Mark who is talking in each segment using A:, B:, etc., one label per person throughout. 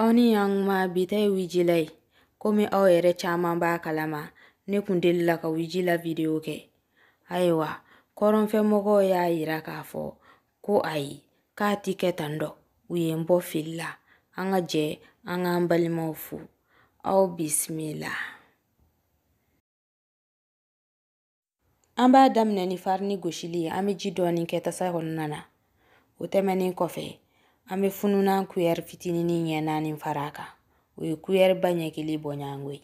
A: Aw ni yan ma bi ta ye wijila ye komi aw yɛrɛ caman b'a kalama ne kun delila ka wijila video kɛ ayiwa kɔrɔnfɛmɔgɔw y'a yira k'a fɔ ko ayi k'a ti kɛ tan dɔ u ye n bɔ fili la an ka jɛ an k'an balimaw fo aw bisimila An b'a daminɛ ni farini gosili ye an bɛ ji dɔɔni kɛ tasa kɔnɔna na o tɛmɛnen kɔfɛ an bɛ fununan kuyɛri fitinin ɲɛ naani fara a kan o ye kuyɛri ba ɲɛ kelen bɔɲɔgɔnko ye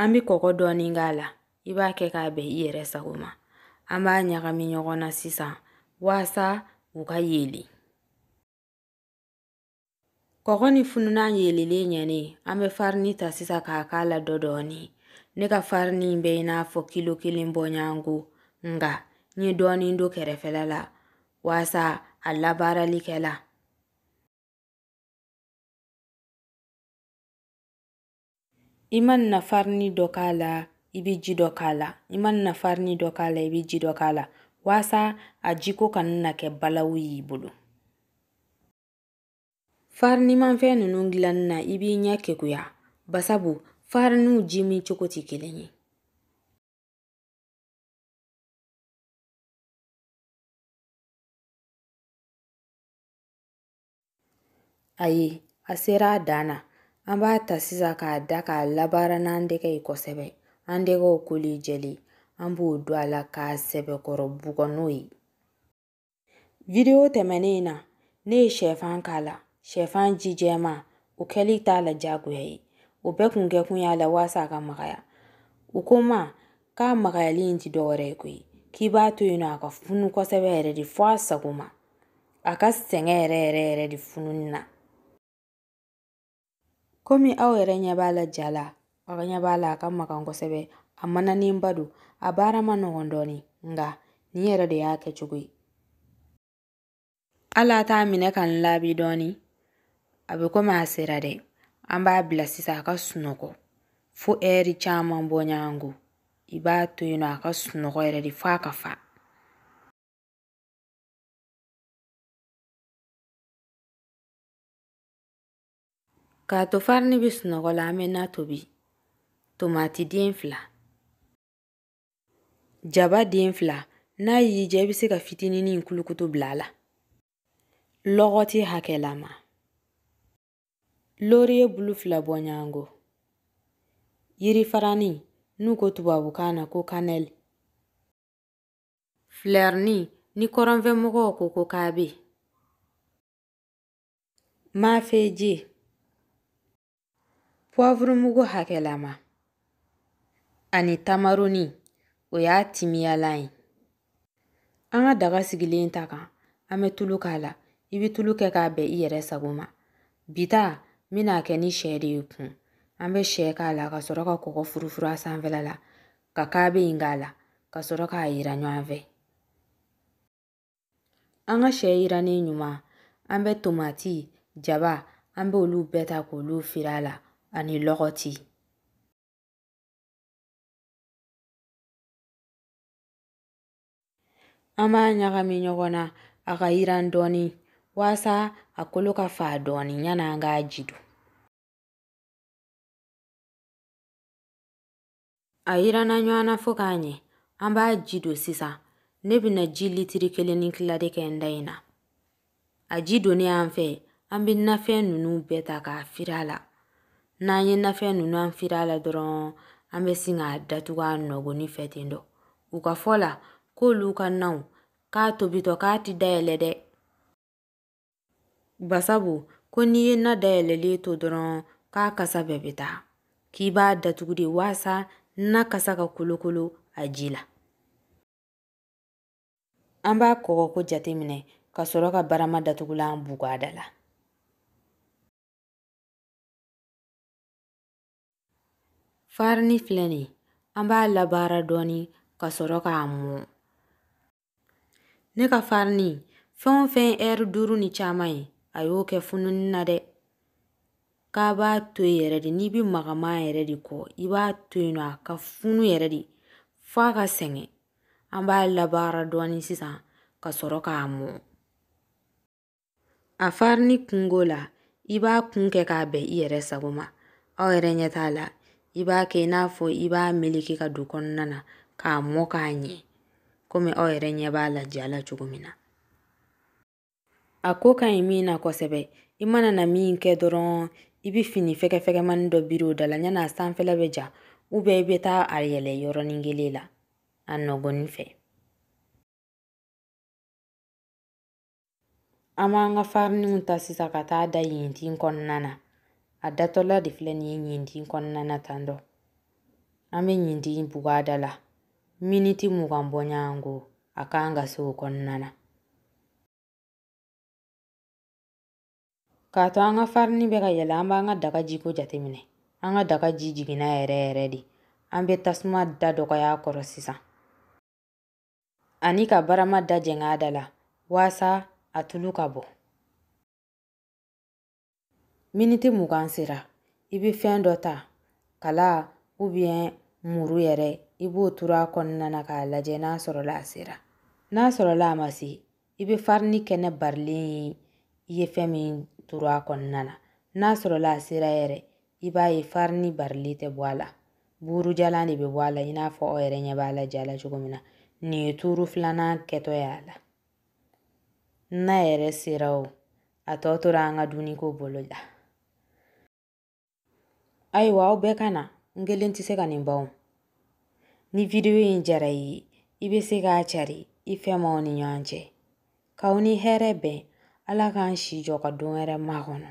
A: an bɛ kɔgɔ dɔɔni k'a la i b'a kɛ k'a bɛn i yɛrɛ sago ma an b'a ɲagami ɲɔgɔn na sisan waasa u ka yeelen Kɔgɔ ni fununan yelilen ɲɛnen an bɛ farini ta sisan k'a k'a la dɔ dɔɔni ne ka farini bɛ i n'a fɔ kilo kelen bɔɲɔgɔnko nka n ye dɔɔni don kɛrɛfɛla la waasa a labaarali kɛ la i mana farini dɔ k'a la i bɛ ji dɔ k'a la i mana farini dɔ k'a la i bɛ ji dɔ k'a la walasa a jiko kana na kɛ balawu y'i bolo farinimanfɛn ninnu dilanni na i b'i ɲɛ kekuya basabu fariniw ji min cogo tɛ kelen ye Ayi, a sera a dan na. An b'a ta sisan k'a da k'a labaara n'an tɛgɛ ye kosɛbɛ. An tɛgɛw kolen jɛlen, an b'o don a la k'a sɛbɛkɔrɔ bugɔ n'o ye. Video tɛmɛnen in na, ne ye shɛfan k'a la. Shɛfan ji jɛman, o kɛli t'a la diyagoya ye. O bɛɛ kun kɛkun y'a la waasa a ka magaya. U ko n ma k'a magayali in tɛ dɔ wɛrɛ ye koyi, k'i b'a to yen nɔ a ka funu kosɛbɛ yɛrɛ de fo a sago ma. a ka sɛgɛn yɛrɛ yɛrɛ yɛrɛ de fununi na komi aw yɛrɛ ɲɛ b'a la ja la aw ɲɛ b'a la a ka magan kosɛbɛ a mananenba don a baara man nɔgɔn dɔɔni nka nin yɛrɛ de y'a kɛcogo ye hali a t'a minɛ ka n laabi dɔɔni a bɛ komi a sera dɛ an b'a bila sisan a ka sunɔgɔ fo ɛri caman bɔɲɔgɔnko i b'a to yen nɔ a ka sunɔgɔ yɛrɛ de f'a ka fa K'a to farini bɛ sunɔgɔ la an bɛ na tobi tomati den fila jaba den fila n'a y'i diya i bɛ se ka fitinin in kulukutu bila a la lɔgɔti hakɛlama loriye bulu fila bɔɲɔgɔnko yirifarani n'u ko tubabukan na ko kanɛli Filɛrini ni kɔrɔnfɛmɔgɔw ko ko kabe. Mafeji pɔvurumugu hakɛlama ani tamaroni o y'a timiyalan ye. An ka daga sigilen ta kan an bɛ tulu k'a la i bɛ tulu kɛ k'a bɛn i yɛrɛ sago ma. Bi ta n bɛna kɛ ni sɛ de ye kun an bɛ sɛ k'a la ka sɔrɔ ka kɔgɔ furufuru a sanfɛla la ka kabe in k'a la ka sɔrɔ k'a yiran ɲɔgɔn fɛ an ka sɛ yirannen ɲuman an bɛ tomati jaba an bɛ olu bɛɛ ta k'olu firi a la ani lɔgɔti an b'a ɲagami ɲɔgɔn na a ka yiran dɔɔni walasa a kolo ka faa dɔɔni yan'an k'a ji don a yiranna ɲɔgɔn na fo k'a ɲɛ an b'a ji don sisan ne bɛna ji litiri kelen ni kila de kɛ n ta in na a ji donnen an fɛ an bɛ nafɛn ninnu bɛɛ ta k'a firi a la n'an ye nafɛn ninnu an firi a la dɔrɔn an bɛ sin k'a datugu a nɔgɔnni fɛ ten dɔ u ka fɔ la k'olu ka naw k'a tobitɔ k'a ti dayɛlɛ dɛ Basabu ko n'i ye na dayɛlɛlen to dɔrɔn k'a kasa bɛɛ bɛ taa k'i b'a datugu de waasa na kasa ka kolokolo a ji la an b'a kɔgɔko jateminɛ ka sɔrɔ ka barama datugulan bugu a da la Farini filɛ nin ye an b'a labaara dɔɔni ka sɔrɔ k'a mɔ ne ka farini fɛn o fɛn ɛri duuru ni caman ye a y'o kɛ fununni na dɛ k'a b'a to yen yɛrɛ de n'i b'a magaman yɛrɛ de kɔ i b'a to yen nɔ a ka funu yɛrɛ de fo a ka sɛgɛn an b'a labaara dɔɔni sisan ka sɔrɔ k'a mɔ A farini kunko la, i b'a kun kɛ k'a bɛn i yɛrɛ sago ma. Aw yɛrɛ ɲɛ t'a la, i b'a kɛ i n'a fɔ i b'a meleke ka don kɔnɔna na k'a mɔ k'a ɲɛ komi aw yɛrɛ ɲɛ b'a la ja la cogo min na. A ko ka ɲi min na kosɛbɛ, i mana na min kɛ dɔrɔn i bɛ fini fɛgɛfɛgɛmani dɔ biri o da la yan'a sanfɛla bɛ ja ubiyɛn i bɛ taa a yɛlɛ yɔrɔnin kelen la a nɔgɔnni fɛ. An b'an ka fariniw ta sisan ka taa da ɲintin kɔnɔna na a datɔla de filɛ nin ye ɲintin kɔnɔna na tan dɔ an bɛ ɲintin bugu a da la miniti mugan bɔɲɔgɔnko a kan ka se o kɔnɔna na k'a to an ka farini bɛ ka yɛlɛ an b'an ka daga jiko jateminɛ an ka daga ji jiginna yɛrɛ yɛrɛ de an bɛ tasuma da dɔgɔya a kɔrɔ sisan ani ka barama da jɛng'a da la waasa a tulu ka bɔ miniti mugan sera i bɛ fɛn dɔ ta kala ou bien muru yɛrɛ i b'o turu a kɔnɔna na k'a lajɛ n'a sɔrɔla a sera n'a sɔrɔla a ma se i bɛ farini kɛnɛ barilen ye i ye fɛn min turu a kɔnɔna na n'a sɔrɔla a sera yɛrɛ i b'a ye farini barilen tɛ bɔ a la buurujalan de bɛ bɔ a la i n'a fɔ aw yɛrɛ ɲɛ b'a la ja la cogo min na nin ye tuuru filanan kɛtɔ ye a la n'a yɛrɛ sera o a tɔ tora an ka dumuniko bolo la ayiwa aw bɛɛ ka na n kelen tɛ se ka nin ban o ni vidiyo in diyara i ye i bɛ se k'a cari i fɛ maaw ni ɲɔgɔn cɛ k'aw ni hɛrɛ bɛn ala k'an si jɔ ka don wɛrɛ makɔnɔ